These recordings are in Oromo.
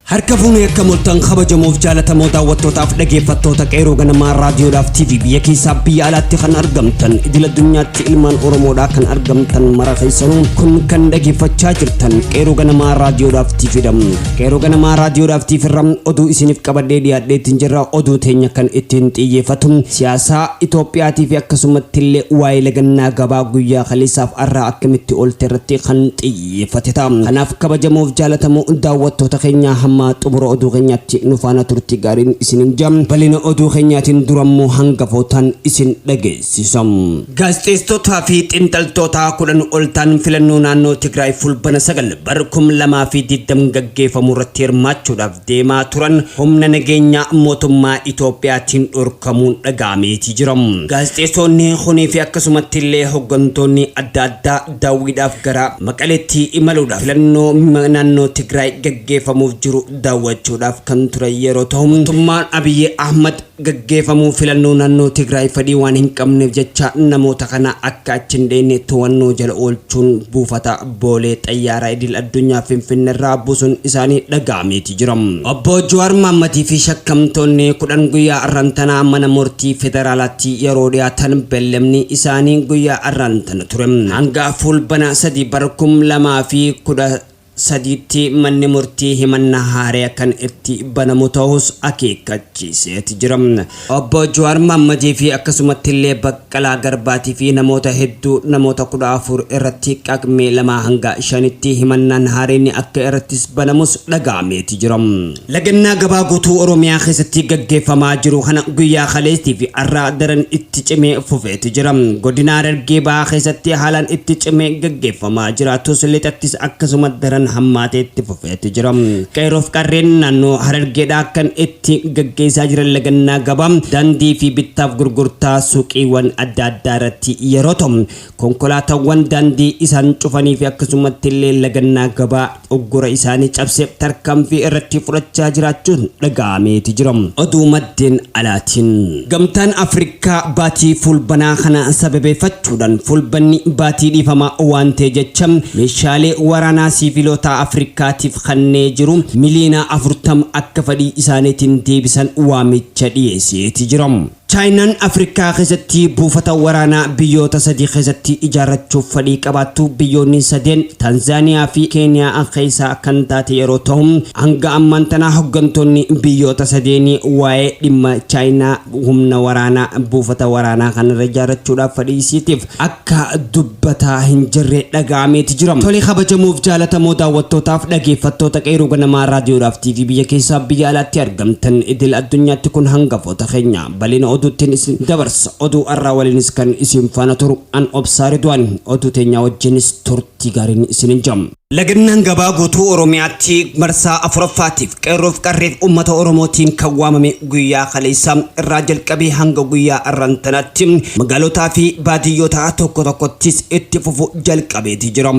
Harka fuunee akkam oltan kabajamoof jaalatamoo daawwattootaaf dhageeffattoota qeeroo ganamaa raadiyoodhaaf TV biyya keessaa biyya alaatti kan argamtan idil addunyaatti ilmaan Oromoodhaa kan argamtan mara keessanuu kun kan dhageeffachaa jirtan qeeroo ganamaa raadiyoodhaaf TV dha. Qeeroo ganamaa raadiyoodhaaf TV irra oduu isiniif qabadhee dhiyaadheetiin jirra oduu teenya kan ittiin xiyyeeffatu siyaasaa Itoophiyaatii fi akkasumatti illee waa'ee lagannaa gabaa guyyaa kaleessaaf arraa akkamitti oolte irratti kan xiyyeeffatu. xiyyeeffate ta'a. Kanaaf kabajamoof jaalatamoo daawwattoota keenyaa hamma xumura oduu keenyaatti nu faana turtii gaariin isinin ja. Bal'ina oduu keenyaatiin dura immoo hangafootaan isin dhageessisa. Gaazexeessitootaa fi xinxaltoota 10 ol ta'an filannoo naannoo Tigraay Fulbana 9 bar 2020 gaggeeffamu irratti hirmaachuudhaaf deemaa turan humna nageenyaa mootummaa Itoophiyaatiin dhorkamuun dhaga'ameetii jira. Gaazexeessoonni kunii fi akkasumatti illee hoggantoonni adda addaa daawwiidhaaf gara Maqaleetti imaluudhaan filannoo naannoo Tigraay gaggeeffamuuf jiru daawwachuudhaaf kan turan yeroo tahu, mootummaan Abiy Ahmad gaggeefamu filannoo naannoo Tigraay fedhii waan hin qabneef jecha namoota kana akka achi hin dheeyne too'annoo jala oolchuun buufata Boolee Xayyaaraa Idil Addunyaa Finfinnerraa buusuun isaanii dhaga'ameeti jira. Obbo Jawaar Mahammadii fi shakkamtoonni 10 guyyaa arran tanaa mana murtii federaalaatti yeroo dhiyaatan bellemni isaanii guyyaa arran tana ture hanga Fuulbana 3 bara 2010 sadiitti manni murtii himannaa haaraya kan itti banamu tahus akeekkachiiseet jira. Obbo Juwaar Mahammadii fi akkasumattillee Baqqalaa Garbaatii fi namoota hedduu namoota 14 irratti Qaqmee 2 hanga 5tti himannaan haarayni akka irrattis banamus dhaga'ameeti jira. Lagannaa gabaa guutuu Oromiyaa keessatti gaggeeffamaa jiru kana guyyaa kaleestii fi har'aa daran itti cimee fufeeti jira. Godina Harargee Bahaa keessatti haalaan itti cimee gaggeeffamaa jiraatus lixattis akkasuma daran hammaatee itti fufeeti jira. Qeerroof qarreen naannoo Harargeedhaa kan itti gaggeessaa jiran lagannaa gabaa, daandii fi bittaaf gurgurtaa suuqiiwwan adda addaa irratti yeroo ta'u, Konkolaatawwan daandii isaan cufanii fi akkasumatti illee lagannaa gabaa uggura isaanii cabse tarkaanfii irratti fudhachaa jiraachuun dhaga'ameeti jira. Oduu maddeen alaatiin. Gamtaan Afrikaa baatii Fulbanaa kana sababeefachuudhan Fulbanni baatii dhiifamaa waan ta'e jecha meeshaalee waraanaa siivilootaa Afrikaatiif kannee jiru miliyoonaa 40 akka fadhii isaaniitiin deebisan waamicha dhiyeeseeti jira. Chaayinaan Afrikaa keessatti buufata waraanaa biyyoota sadii keessatti ijaarrachuuf fadhii qabaattu biyyoonni sadeen Tanzaaniyaa fi Keeniyaa keessaa kan taate yeroo tahu, hanga ammaan tana hoggantoonni biyyoota sadeenii waa'ee dhimma Chaayinaa humna waraanaa buufata waraanaa kanarra ijaarrachuudhaaf fadhii isiitiif akka Akka dubbataa hin jirre dhaga'ameeti jira. Tole kabajamoof jaalatamoo daawwattootaaf dhageeffattoota Qeerroo Ganamaa Raadiyoodhaaf TV biyya keessaaf biyya alaatti argamtan idil addunyaatti kun hangafoota keenya. Bal'ina oduuttiin isin dabarsa. Oduu har'aa waliinis kan isin faana turu an Obsaa Ridwaani. Oduu teenyaa wajjinis turtii gaariin isinin jam. Lagannaan gabaa guutuu Oromiyaatti marsaa afuraffaatiif qeerroof qarreef uummata Oromootiin kan waamame guyyaa kaleessaa irraa jalqabee hanga guyyaa arran tanaatti magaalotaa fi baadiyyoota tokko tokkottis itti fufu jalqabeeti jira.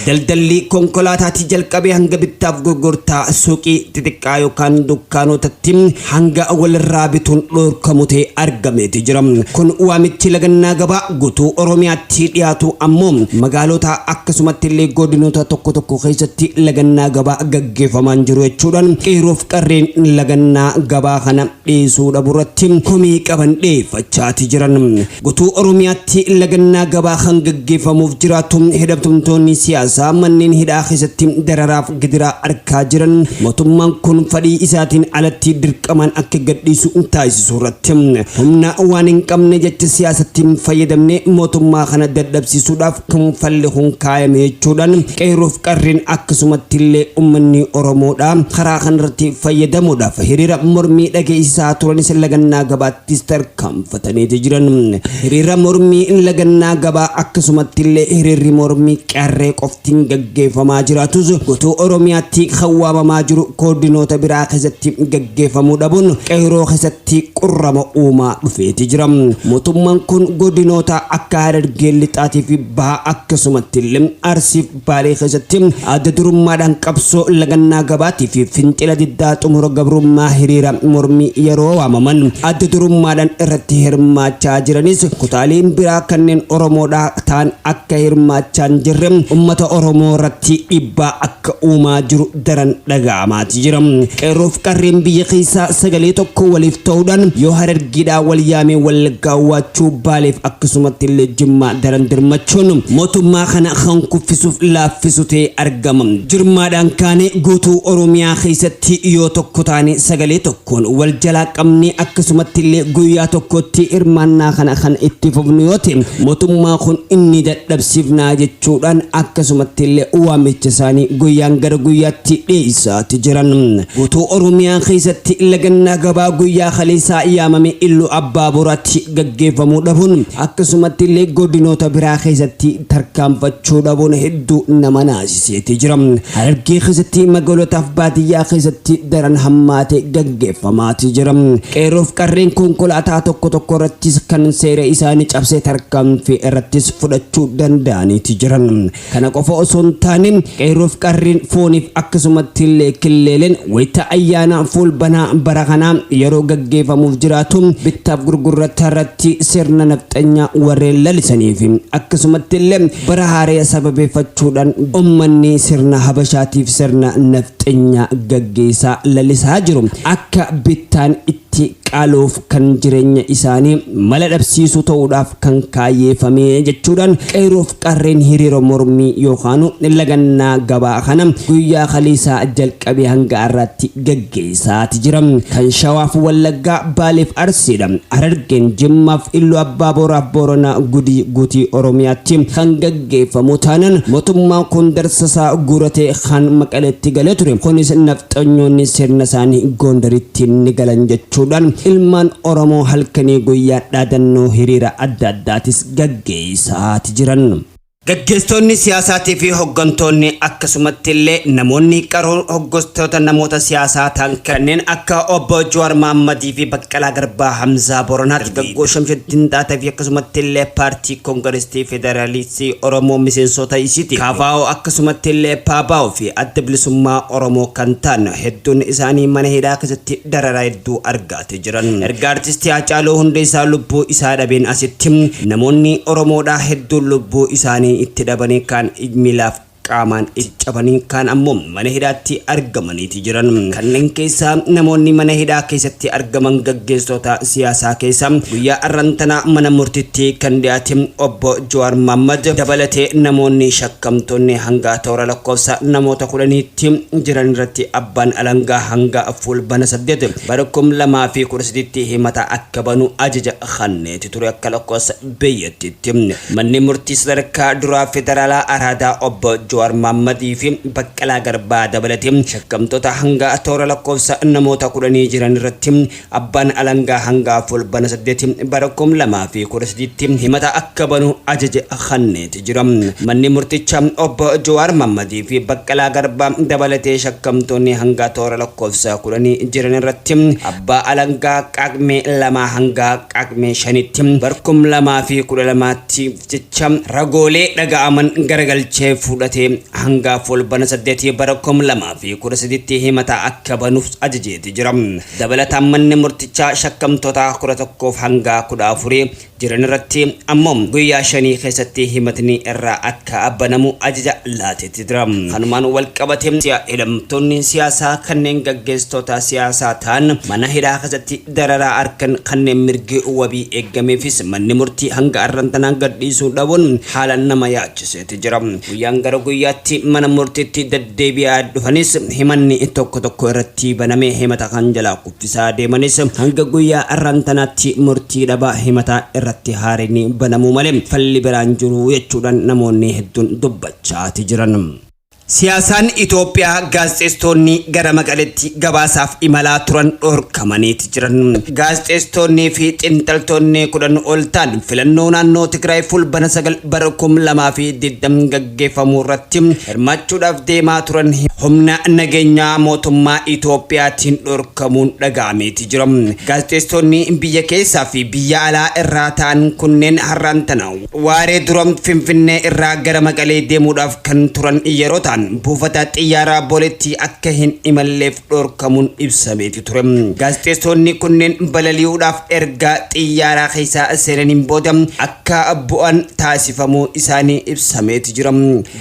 Daldalli konkolaataatii jalqabee hanga bittaaf gurgurtaa suuqii xixiqqaa yookaan dukkaanootatti hanga walirraa bituun dhoorkamu ta'e argameeti jira. Kun waamichi lagannaa gabaa gutuu Oromiyaatti dhiyaatu ammoo magaalota akkasumatti illee godinoota tokko tokko keessatti lagannaa gabaa gaggeeffamaan jiru jechuudhaan qeerroof qarreen lagannaa gabaa kana dhiisuu dhabu irratti komii qaban dhiyeeffachaati jiran. Gutuu Oromiyaatti lagannaa gabaa kan gaggeeffamuuf jiraatu hidhamtumtoonni siyaasaa manneen hidhaa keessatti dararaaf gidiraa arkaa jiran mootummaan kun fadhii isaatiin alatti dirqamaan akka gadhiisu taasisuu irratti humna waan hin qabne jecha siyaasatti fayyadamne mootummaa kana dadhabsiisuudhaaf kan falli kun kaayame jechuudhaan qeerroof qarreen akkasumatti illee ummanni Oromoodha karaa kanarratti fayyadamuudhaaf hiriira mormii dhageessisaa turanis lagannaa gabaattis tarkaanfatanii jiran. Hiriira mormii lagannaa gabaa akkasumatti illee hiriirri mormii qarree qoftiin gaggeeffamaa jiraatus guutuu Oromiyaatti kan waamamaa jiru koordinoota biraa keessatti gaggeeffamuu dhabuun qeerroo keessatti qurrama uumaa dhufeeti jira. Mootummaan kun godinoota akka Harargee Lixaatii fi Bahaa akkasumatti illee Arsiif Baalee keessatti adda durummaadhaan qabsoo lagannaa gabaatii fi fincila diddaa xumura gabrummaa hiriira mormii yeroo waamaman adda durummaadhaan irratti hirmaachaa jiranis kutaaleen biraa kanneen Oromoodhaa ta'an akka hirmaachaa hin jirre uummata Oromoo irratti dhiibbaa akka uumaa jiru daran dhaga'amaati jira. Qeerroof qarreen biyya keessaa sagalee tokko waliif ta'uudhaan yoo Harargeedhaa wal yaamee Wallaggaa Waachuu Baaleef akkasumatti illee Jimmaa daran dirmachuun mootummaa kana kan kuffisuuf laaffisu ta'ee argama. Jirmaadhaan kaanee guutuu Oromiyaa keessatti yoo tokko taanee sagalee tokko Kun wal jalaa qabnee akkasumatti illee guyyaa tokkotti hirmaannaa kana kan itti fufnu yoo ta'e mootummaa kun ni dadhabsiifnaa jechuudhaan akkasumatti illee waamicha isaanii guyyaan gara guyyaatti dhiyeessaati jiran. Guutuu Oromiyaa keessatti lagannaa gabaa guyyaa kaleessaa yaamame Iluu Abbaa Booraatti gaggeeffamuu dhabuun akkasumatti illee godinoota biraa keessatti tarkaanfachuu dhabuun hedduu nama naasiseeti jira. Harargee keessatti magaalotaaf baadiyyaa keessatti daran hammaatee gaggeeffamaati jira. Qeerroof qarreen konkolaataa tokko tokko irrattis kan seera isaanii cabse tarkaanfii irrattis fudhachuu danda'aniiti jiran. Kana qofa osoo hin taane qeerroof qarreen fooniif akkasumatti illee killeeleen wayita ayyaanaa fuulbanaa bara kanaa yeroo gaggeeffamuuf jiraatu bittaaf gurgurrata irratti Tti sirna nafxanyaa warreen lalisanii fi akkasumatti illee bara haaraya sababeeffachuudhaan ummanni sirna habashaatiif sirna nafxenyaa gaggeessaa lalisaa jiru akka bittaan itti qaaloof kan jireenya isaanii mala dhabsiisuu ta'uudhaaf kan kaayyeefamee jechuudhaan qeerroof Qarreen hiriira mormii yookaanu lagannaa gabaa kana guyyaa kaleessaa jalqabee hanga har'aatti gaggeessaati jira. Kan Shawaaf Wallaggaa, Baaleef Arsiidha. Harargeen Jimmaaf Illu Abbaa Booraaf Booranaa Gudii guutii Oromiyaatti kan gaggeeffamu taanan motummaan kun darsasaa guuratee kaan Maqaleetti galee ture. Kunis nafxanyoonni sirnasaanii Goondaritti ni galan jechuudhaan ilmaan Oromoo halkanii guyyaa dhaadannoo hiriira adda addaatis gaggeessaa ti jiran. Gaggeessitoonni siyaasaatii fi hoggantoonni akkasumatti illee namoonni qaroon hoggostoota namoota siyaasaa ta'an kanneen akka Obbo Jawaar Mahammadii fi Baqqalaa Garbaa, Hamzaa Booranaa, Dargaggoo Shamshaddin Xaatee fi akkasumatti illee Paartii Kongirestii Federaalistii Oromoo miseensoota isiiti. KFO akkasumatti illee PABO fi Adda Bilisummaa Oromoo kan ta'an hedduun isaanii mana hidhaa keessatti dararaa hedduu argaa. tti jiran erga artisti Haacaaluu Hundeessaa lubbuu isaa dhabeen asitti namoonni Oromoodhaa hedduun lubbuu isaanii itti dhabanii kaan ij miilaaf qaamaan ij cabanii kaan ammoo mana hidhaatti argamaniiti jiran. Kanneen keessaa namoonni mana hidhaa keessatti argaman gaggeessoota siyaasaa keessaa guyyaa arran tanaa mana murtitti kan dhiyaate obbo Jawaar Mahaammad dabalatee namoonni shakkamtoonni hanga toora lakkoofsa namoota kudhaniitti jiran irratti abbaan alangaa hanga Fuulbana 8, Bara 2013tti himata akka banu ajaja kanneeti ture akka lakkoofsa biyyattiitti. Manni murtii sadarkaa duraa federaalaa Araadaa Obbo Jawaar Maammadii fi Baqqalaa Garbaa dabalatee shakkamtoota hanga toora lakkoofsa namoota kudhanii jiran irratti abbaan alangaa hanga Fulbana 8 bara 2013tti himata akka banu ajaja kanneeti ture. jira. Manni murticha Obbo Jawaar Mahammadii fi Baqqalaa Garbaa dabalatee shakkamtoonni hanga toora lakkoofsa kudhanii jiran irratti abbaa alangaa Qaaqmee lamaa hanga Qaaqmee shanitti bar kum lamaa fi kudha lamaatti jecha ragoolee dhaga'aman garagalchee fudhatee hanga Fulbana saddeetii bara kum lamaa fi kudha sadiitti himataa akka banuuf ajajeeti jira. Dabalataan manni murtichaa shakkamtoota kudha tokkoof hanga kudha afurii jiran irratti ammoo guyyaa shanii keessatti himatni irraa akka banamu ajaja laateeti jira. Kanumaan wal qabatee si'a hidhamtoonni siyaasaa kanneen gaggeessitoota siyaasaa ta'an mana hidhaa keessatti dararaa arkan kanneen mirgi wabii eeggameefis manni murtii hanga arran tanaa gadhiisuu dhabuun haalaan nama yaachiseeti jira. Guyyaan gara guyyaatti mana murtiitti deddeebi'aa dhufanis himanni tokko tokko irratti banamee himata kan jalaa isaa deemanis hanga guyyaa arraan tanaatti murtii dhabaa himataa irratti haarayni banamuu malee falli biraa hin jiru jechuudhaan namoonni hedduun dubbachaati jiran. Siyaasaan Itoophiyaa Gaazexeessitoonni gara Maqaleetti gabaasaaf imalaa turan dhorkamaniiti jiran. Gaazexeessitoonnii fi xiinxaltoonni 10 ol ta'an filannoo naannoo Tigraay Fulbana 9 bara 2020 gaggeeffamu. gaggeeffamu irratti hirmaachuudhaaf deemaa turan humna nageenyaa mootummaa Itoophiyaatiin dhorkamuun dhaga'ameeti jira. Gaazexeessitoonni biyya keessaa fi biyya alaa irraa ta'an kunneen har'aan tana waaree dura Finfinnee irraa gara Maqalee deemuudhaaf kan turan yeroo ta'an buufata xiyyaaraa Booleetti akka hin imalleef dhorkamuun ibsameeti ture. Gaazexeessonni kunneen balali'uudhaaf erga xiyyaaraa keessa seenaniin booda akka bu'an taasifamuu isaanii ibsameeti jira.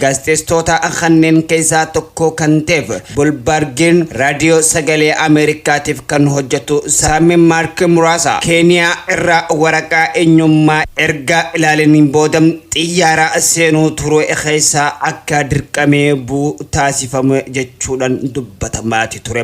Gaazexeessitoota kanneen keessaa tokko kan ta'eef Bolbaargiin raadiyoo sagalee Ameerikaatiif kan hojjetu Saami Maark Muraasa Keeniyaa irraa waraqaa eenyummaa erga ilaalaniin booda xiyyaara seenuu turee keessaa akka dirqamee bu'u taasifame jechuudhaan dubbatamaati ture.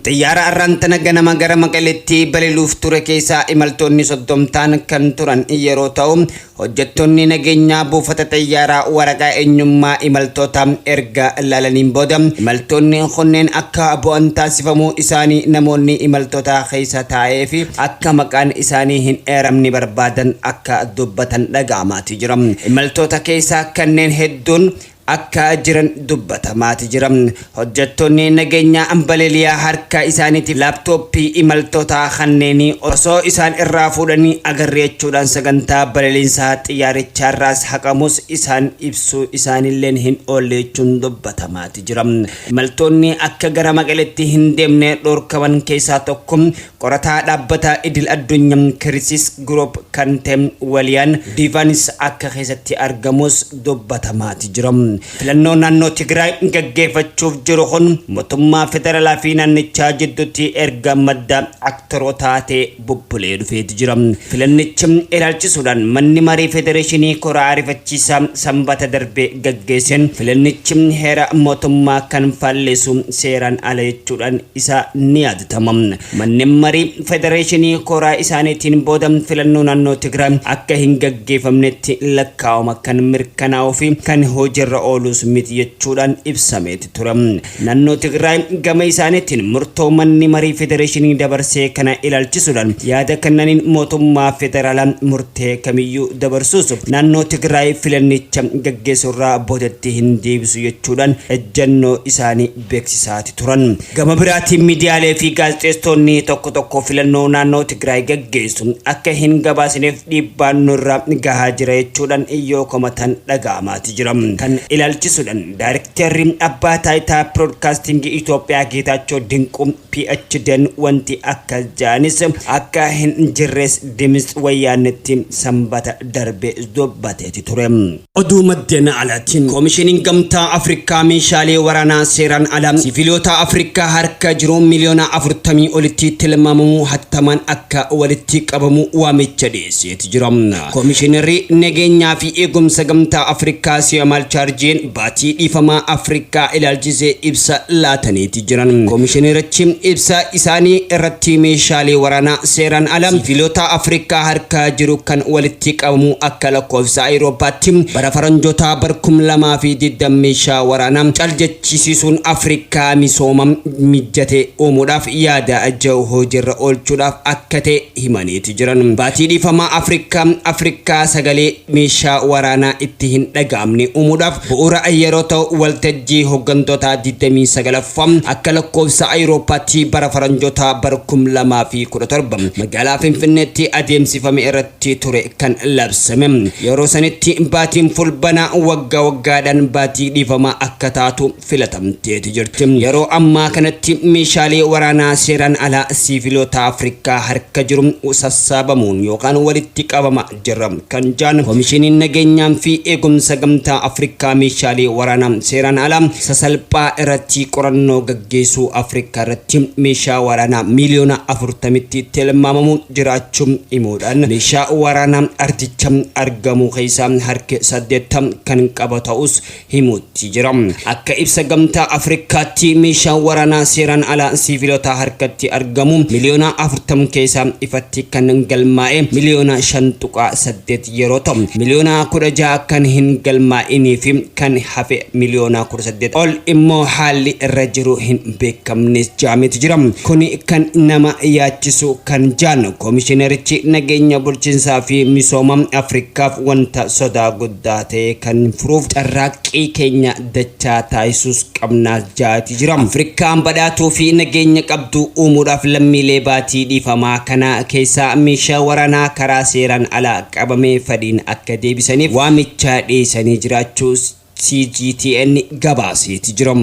Xiyyaara arraan tana ganama gara Maqaleetti baliluuf ture keessaa imaltoonni soddomtaan kan turan yeroo ta'u, hojjettoonni nageenyaa buufata xiyyaaraa waraqaa eenyummaa imaltoota erga laalaniin booda imaltoonni kunneen akka bu'an taasifamuu isaanii namoonni imaltootaa keessa taa'ee fi akka maqaan isaanii hin eeramne barbaadan akka dubbatan dhaga'amaati jira. Imaltoota keessaa kanneen hedduun akka jiran dubbatamaati jira. Hojjettoonni nageenyaa balaliyaa harka isaaniitii laaptooppii imaltootaa kanneenii osoo isaan irraa fuudhanii agarre jechuudhaan sagantaa balaliinsa xiyyaarichaarraas haqamuus isaan ibsuu isaaniilleen hin oolle jechuun dubbatamaati jira. Imaltoonni akka gara Maqaleetti hin deemne dhorkaman keessaa tokko Qorataa dhaabbata idil addunyaa Kirisis Group kan ta'e Waliyaan Diivaanis akka keessatti argamus dubbatamaati jira. Filannoo naannoo Tigraay gaggeefachuuf jiru kun mootummaa federalaa fi naannichaa jidduutti erga madda aktarootaa ta'e bubbulee dhufeeti jira. Filannicha ilaalchisuudhaan manni marii federeeshinii kora ariifachiisaa sanbata darbe gaggeesseen filannichi heera mootummaa kan faalleessu seeraan ala jechuudhaan isaa ni yaadata. gaafatama. Manneen marii federeeshinii kooraa isaaniitiin booda filannoo naannoo Tigraay akka hin gaggeefamnetti lakkaawama kan mirkanaa'uu fi kan hojiirra ooluus miti jechuudhaan ibsameeti ture. Naannoo Tigraay gama isaaniitiin murtoo manni marii federeeshinii dabarsee kana ilaalchisuudhaan yaada kennaniin mootummaa federaalaa murtee kamiyyuu dabarsuus naannoo Tigraay filannicha gaggeessuurraa boodatti hin deebisu jechuudhaan ejjannoo isaanii beeksisaati turan. Gama biraatiin miidiyaalee fi gaazexeessitoonni tokko tokko filannoo naannoo Tigraay gaggeessu akka hin gabaasineef dhiibbaan nurra gahaa jira jechuudhan yoo komatan dhaga'amaati jira. Kan ilaalchisuudhan Daarikteerri Abbaa Taayitaa Piroodkaastiingii Itoophiyaa Geetaachoo Dinquu, PHDn wanti akkas ja'anis akka hin jirres Dimits Wayyaannetti Sambata darbe dubbateeti ture. Oduu maddeen alaatiin Koomishiniin Gamtaa Afrikaa meeshaalee waraanaa seeraan ala siviilota Afrikaa harka jiru miliyoona 40 olitti tilmaamamu hattamaan akka walitti qabamu waamicha dhiyeesseeti jira. Koomishinarri nageenyaa fi eegumsa Gamtaa Afrikaa Siyamal Chaarjeen baatii dhiifamaa Afrikaa ilaalchisee ibsa laataniiti. jiran. Komishinerichi ibsa isaanii irratti meeshaalee waraanaa seeraan ala siiviilota Afrikaa harka jiru kan walitti qabamu akka lakkoofsa Ayiroopaatti bara faranjootaa bar 2020 meeshaa waraanaa cal jechisiisuun Afrikaa misooma mijjate uumuudhaaf yaada ja'u hojiirra oolchuudhaaf akka ta'e himaniiti jiran. Baatii dhiifamaa Afrikaa, Afrikaa sagalee. meeshaa waraanaa itti hin dhaga'amne uumuudhaaf bu'uura yeroo ta'u, waltajjii hoggantotaa 29ffaa akka lakkoofsa Ayurooppaatti bara Faranjootaa bara 2017 magaalaa Finfinneetti adeemsifame irratti ture kan labsame. Yeroo sanitti baatiin Fulbanaa waggaa waggaadhaan baatii dhiifamaa akka taatu filatamteeti jirti. Yeroo ammaa kanatti meeshaalee waraanaa seeraan alaa siiviloota Afrikaa harka jiru sassaabamuun yookaan walitti qabama jira kan jaan komishiniin nageenyaa fi eegumsa gamtaa Afrikaa meeshaalee waraanaa seeraan alaa sasalphaa irratti qorannoo gaggeessuu Afrikaa irratti meeshaa waraanaa miiliyoona afurtamitti tilmaamamu jiraachuu himuudhaan meeshaa waraanaa ardicha argamuu keessaa harki saddeettam kan qaba ta'us himuutti jira. Akka ibsa Gamtaa Afrikkaatti meeshaan waraanaa seeraan alaa siivilotaa harkatti argamu miliyoona 40 keessaa ifatti kan galmaa'e miliyoona 5.8 yeroo ta'u, miliyoona 16 kan hin galmaa'inii fi kan hafe miliyoona 18 ol immoo haalli irra jiru hin beekamnes jaameeti jira. Kuni kan nama yaachisu kan jaan Komishinerichi nageenya bulchinsaa fi misooma Afrikkaaf wanta sodaa guddaa taate kan furuuf carraaqqii keenya dachaa taasisuus qabnaas jaati jira. Afrikkaan badhaatuu fi nageenya qabdu uumuudhaaf lammiilee baatii dhiifamaa kana keessaa meeshaa waraanaa karaa seeraan alaa qabame fadhiin akka deebisaniif waamicha dhiyeessanii jiraachuus CGTN gabaaseeti jira.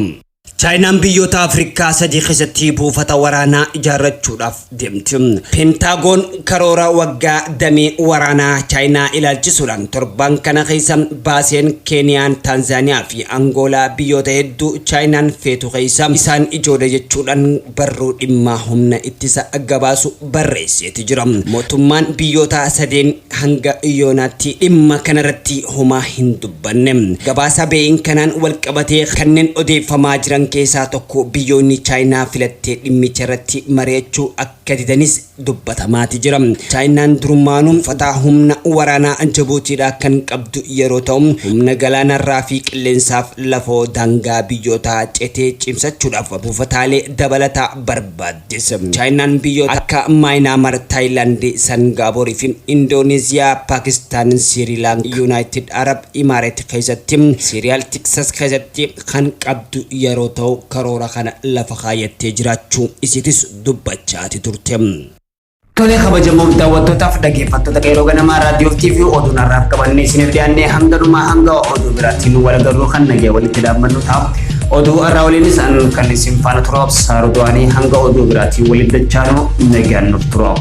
Chaayinaan biyyoota Afrikaa sadii keessatti buufata waraanaa ijaarrachuudhaaf deemti. Pentaagoon karoora waggaa damee waraanaa Chaayinaa ilaalchisuudhaan torban kana keessa baaseen Keeniyaan, Taanzaaniyaa fi Angoolaa biyyoota hedduu Chaayinaan feetu keessa isaan ijoodha jechuudhaan barruu dhimmaa humna ittisa gabaasu barreesseeti jira. Mootummaan biyyoota sadeen hanga yoonaatti dhimma kanarratti homaa hin dubbanne. Gabaasa Bee'ing kanaan walqabatee kanneen odeeffamaa jiran keessaa tokko biyyoonni Chaayinaa filattee dhimmicharratti mari'achuu akka didanis dubbatamaati jira. Chaayinaan durummaanuu buufataa humna waraanaa Jabuutiidhaa kan qabdu yeroo ta'u, humna galaanarraa fi qilleensaaf lafoo daangaa biyyootaa cetee cimsachuudhaaf buufataalee dabalataa barbaaddes. Chaayinaan biyyoota akka Maayinaamar, Taayilaand, Sangaaboor fi Indooneeziyaa, Paakistaan, Siirilaankaa, Yuunaayitid Arab Imaareet keessatti Siiriyaal Tiksas keessatti kan qabdu yeroo ta'u karoora kana lafa kaayyattee jiraachuu isiitis dubbachaati turte. Tolee kabajamoof daawwattootaaf dhaggeeffattoota qeeroo ganamaa raadiyoo fi TV oduu narraaf qabannee isiniif dhiyaannee hanga dhumaa hanga oduu biraatiin nu walagarruu kan nagee walitti dhaabbannu ta'a. Oduu har'aa waliinis an kan isin faana turuuf saaru du'anii hanga oduu biraatiin walitti dachaanu nagaan nuuf turuuf.